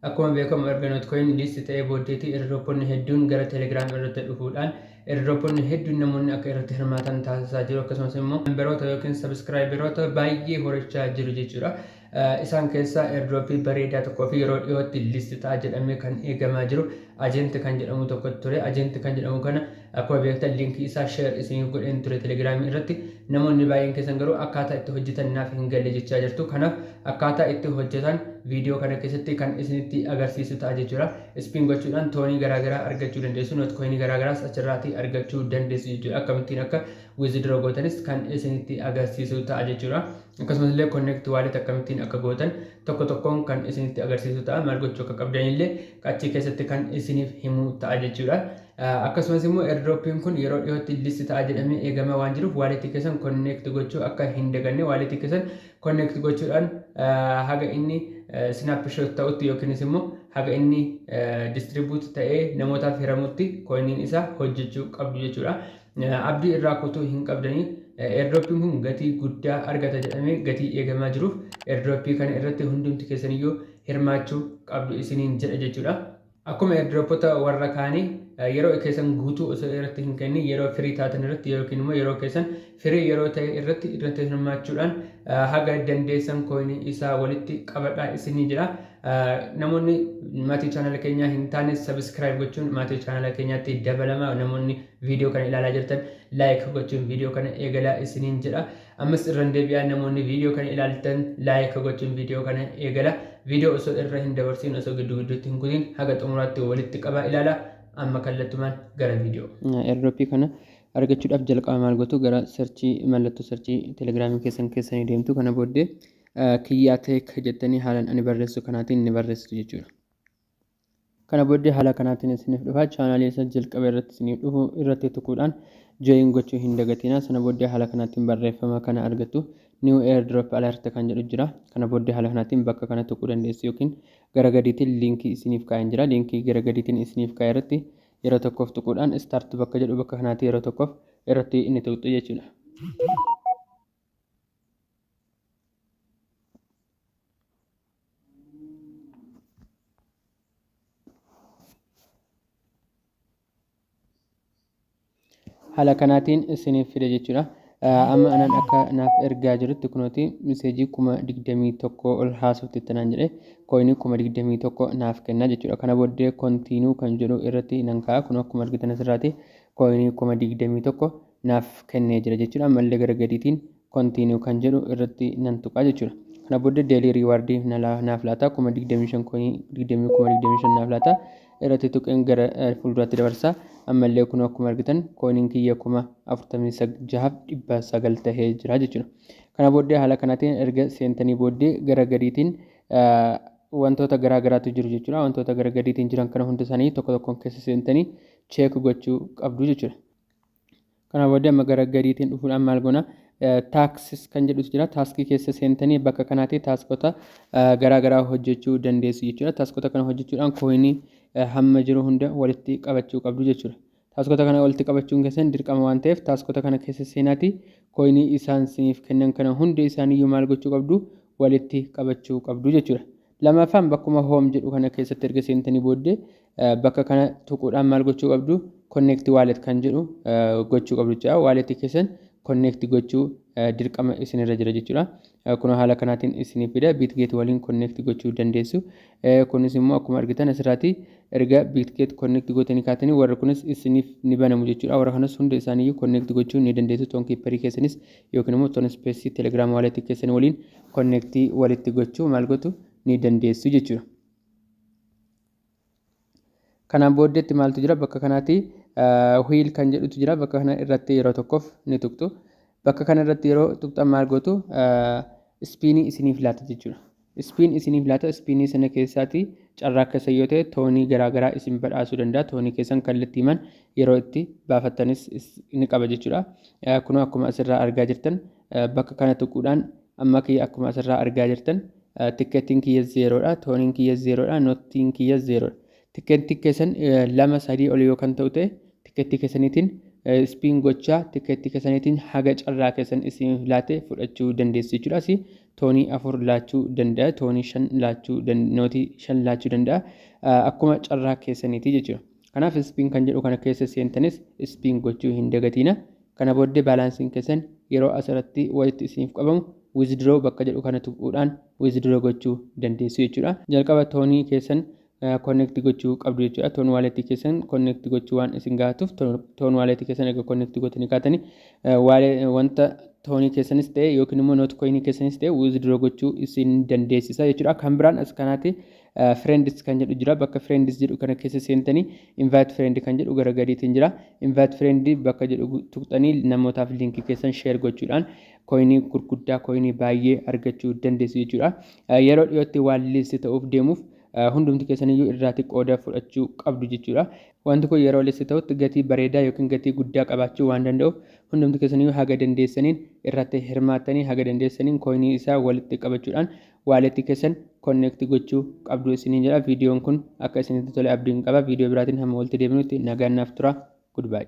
Akkuma beekamu erga Notcoin list ta'ee booddeetii airdroponni hedduun gara Telegram irratti dhufuudhaan airdroponni hedduun namoonni akka irratti hirmaatan taasisaa jiru akkasumas immoo memberoota yookiin subscriberoota baay'ee horachaa jiru jechuudha. Isaan keessaa airdropii bareedaa tokkoo fi yeroo dhiyootti list ta'a jedhamee kan eegamaa jiru ajenti kan jedhamu tokko ture. Ajenti kan jedhamu kana Akkuma beektan link isaa share isiniif godheen ture telegram irratti namoonni baay'een keessan garuu akkaataa itti hojjetan naaf hin galle jechaa jirtu kanaaf akkaataa itti hojjetan viidiyoo kana keessatti kan isinitti agarsiisu ta'a jechuudha ispiin gochuudhaan toonii garaagaraa argachuu dandeessu noot koinii garaagaraas achirraatii argachuu dandeessu jechuudha akkamittiin akka wizidroo gootanis kan isinitti agarsiisu ta'a jechuudha akkasumas illee connect wallet akkamittiin akka gootan tokko tokkoon kan isinitti agarsiisu ta'a maal gochuu akka qabdanillee achi keessatti kan isiniif himu ta'a jechuudha Akkasumas immoo airdrop'n kun yeroo dhiyootti list ta'a jedhamee eegamaa waan jiruuf wallet keessan connect gochuu akka hin daganne wallet keessan connect gochuudhaan haga inni snapshot ta'utti yookiinis immoo haga inni distribute ta'ee namootaaf hiramutti coin'iin isaa hojjechuu qabdu jechuudha. Abdii irraa kutuu hin qabdanii airdrop'n kun gatii guddaa argata jedhamee gatii eegamaa jiruuf airdropii kana irratti hundumti keessaniyyuu hirmaachuu qabdu isiniin jedha jechuudha. Akkuma airdropota warra kaanii yeroo keessan guutuu osoo irratti hin kennin yeroo firii taatan irratti yookiin immoo yeroo keessan firii yeroo ta'e irratti irratti hirmaachuudhaan haga dandeessan kooyinii isaa walitti qabadhaa isinii jedha. Namoonni maatii chaanala keenyaa hin taane sabiskiraayib gochuun maatii chaanala keenyaatti dabalama. Namoonni viidiyoo kana ilaalaa jirtan laayik gochuun viidiyoo kana eegalaa isiniin jedha. Ammas irran debi'aa namoonni video kana ilaaltan like gochuun video kana eegala. Video osoo irra hin dabarsiin osoo giddu gidduutti hin kutiin haga xumuraatti walitti qabaa ilaala. Amma kallattumaan gara video. Airdrop kana argachuudhaaf jalqaba maal gootu gara searchii mallattoo searchii telegiraamii keessan keessanii deemtu kana booddee kiyyaa tech jettanii haalan ani barreessu kanaatiin ni barreessitu jechuudha. Kana booddee haala kanaatiin isiniif dhufa. Chaanaalii isa jalqaba irratti isiniif dhufu irratti tuquudhaan join gochuu hin dagatinaa. Sana booddee haala kanaatiin barreeffama kana argattu. New airdrop alert kan jedhu jira. Kana booddee haala kanaatiin bakka kana tuquu dandeessu yookiin gara gadiitiin liinkii isiniif kaa'een jira. Liinkii gara gadiitiin isiniif kaa'e irratti yeroo tokkoof tuquudhaan start bakka jedhu bakka kanaatii yeroo tokkoof irratti inni tuqxu jechuudha. haala kanaatiin isiniif fide jechuudha. Amma anaan akka naaf ergaa jirutti kunooti miseejii kuma digdamii tokko ol haasofte tanaan jedhe kooyinii kuma digdamii tokko naaf kenna jechuudha. Kana booddee kontiinuu kan jedhu irratti nan ka'a kun akkuma argitan asirraati kooyinii kuma digdamii tokko naaf kennee jira jechuudha. Ammallee gara gadiitiin continue kan jedhu irratti nan tuqaa jechuudha. Kana booddee daily reward na la- naaf laata kuma 25 koinii 20 kuma 25 naaf laata irratti tuqeen gara eh, fuulduraatti dabarsa. Ammallee kun akkuma argitan koiniin kiyya kuma 46f 900 tahee jira jechuudha. Kana booddee haala kanaatiin erga seentanii booddee gara gadiitiin eh, wantoota garaa garaatu jiru jechuudha. Wantoota gara gadiitiin jiran kana hunda isaanii tokko tokkoon keessa seentanii cheek gochuu qabdu jechuudha. Kana booda amma gara gadiitiin dhufuudhaan maal goona? Taaksis kan jedhus jira. Taaskii keessa seentanii bakka kanaatii taaskota garaa garaa hojjechuu dandeessu jechuudha. Taaskota kana hojjechuudhaan kooyinii hamma jiru hunda walitti qabachuu qabdu jechuudha. Taaskota kana walitti qabachuun keessan dirqama waan ta'eef taaskota kana keessa seenaatii kooyinii isaan siniif kennan kana hunda isaaniiyyuu maal gochuu qabdu? Walitti qabachuu qabdu jechuudha. Lammaffaan bakkuma home jedhu kana keessatti erga seentanii booddee bakka kana tuquudhaan maal gochuu qabdu connect wallet kan jedhu gochuu qabdu jechuudha. Wallet keessan connect gochuu dirqama isinirra jira jechuudha. Kunoo haala kanaatiin isiniif fida bitgate waliin connect gochuu dandeessu. Kunis immoo akkuma argitan asirraati erga bitgate connect gootanii kaatanii warri kunis isiniif ni banamu jechuudha. Warra kanas hunda isaaniiyyuu connect gochuu ni dandeessu. Toonkiipparii keessanis yookiin immoo ton space telegram wallet keessan waliin connect walitti gochuu maal gotu ni dandeessu jechuudha. Kanaan booddeetti maaltu jira bakka kanaati wheel kan jedhutu jira bakka kana irratti yeroo tokkoof ni tuqxu. Bakka kana irratti yeroo tuqxan maal gootu ispiinii isiniif laata jechuudha. Ispiin isiniif laata, ispiinii sana keessaatii carraa keessan yoo ta'e toonii garaa garaa isin badhaasuu danda'a. Toonii keessan kallattiiman yeroo itti baafattanis ni qaba jechuudha. Kunoo akkuma asirraa argaa jirtan bakka kana tuquudhaan amma kiyya akkuma asirraa argaa jirtan tikkeettiin kiyya zeeroodha, tooniin kiyya zeeroodha, noottiin kiyya zeeroodha. Tikkeettii keessan lama sadii ol yoo kan ta'u ta'e tikkeettii keessaniitiin ispiin gochaa tikkeettii keessaniitiin haga carraa keessan isin laate fudhachuu dandeessu jechuudha. Asi toonii afur laachuu danda'a, toonii shan laachuu nootii shan laachuu danda'a. Akkuma carraa keessaniitii jechuudha. Kanaaf ispiin kan jedhu kana keessa seentanis ispiin gochuu hin dagatiina. Kana booddee baalaansiin keessan yeroo asirratti walitti isiniif qabamu wizidroo bakka jedhu kana tuquudhaan wizidroo gochuu dandeessu jechuudha. Jalqaba toonii keessan connect gochuu qabdu jechuudha. Toon waaleetii keessan connect gochuu waan isin gaafatuuf toon waaleetii keessan erga connect gootanii kaatanii wanta toonii keessanis ta'e yookiin immoo noot koyinii keessanis ta'e withdraw gochuu isin dandeessisa jechuudha. Kan biraan as kanaati friends kan jedhu jira. Bakka friends jedhu kana keessa seentanii invite friend kan jedhu gara gadiitiin jira. Invite friend bakka jedhu tuqxanii namootaaf liinkii keessan share gochuudhaan koyinii gurguddaa koyinii baay'ee argachuu dandeessu jechuudha. Yeroo dhiyootti waan liist ta'uuf deemuuf hundumti keessaniyyuu irraati qooda fudhachuu qabdu jechuudha. Wanti kun yeroo list ta'utti gatii bareedaa yookiin gatii guddaa qabaachuu waan danda'uuf hundumti keessaniyyuu haga dandeessaniin irratti hirmaattanii haga dandeessaniin kooyinii isaa walitti qabachuudhaan waaleetti keessan konneekti gochuu qabdu isiniin jedha. Viidiyoon kun akka isinitti tole abdiin qaba. Viidiyoo biraatiin hamma walitti deebinutti nagaan naaf tura. Goodbye.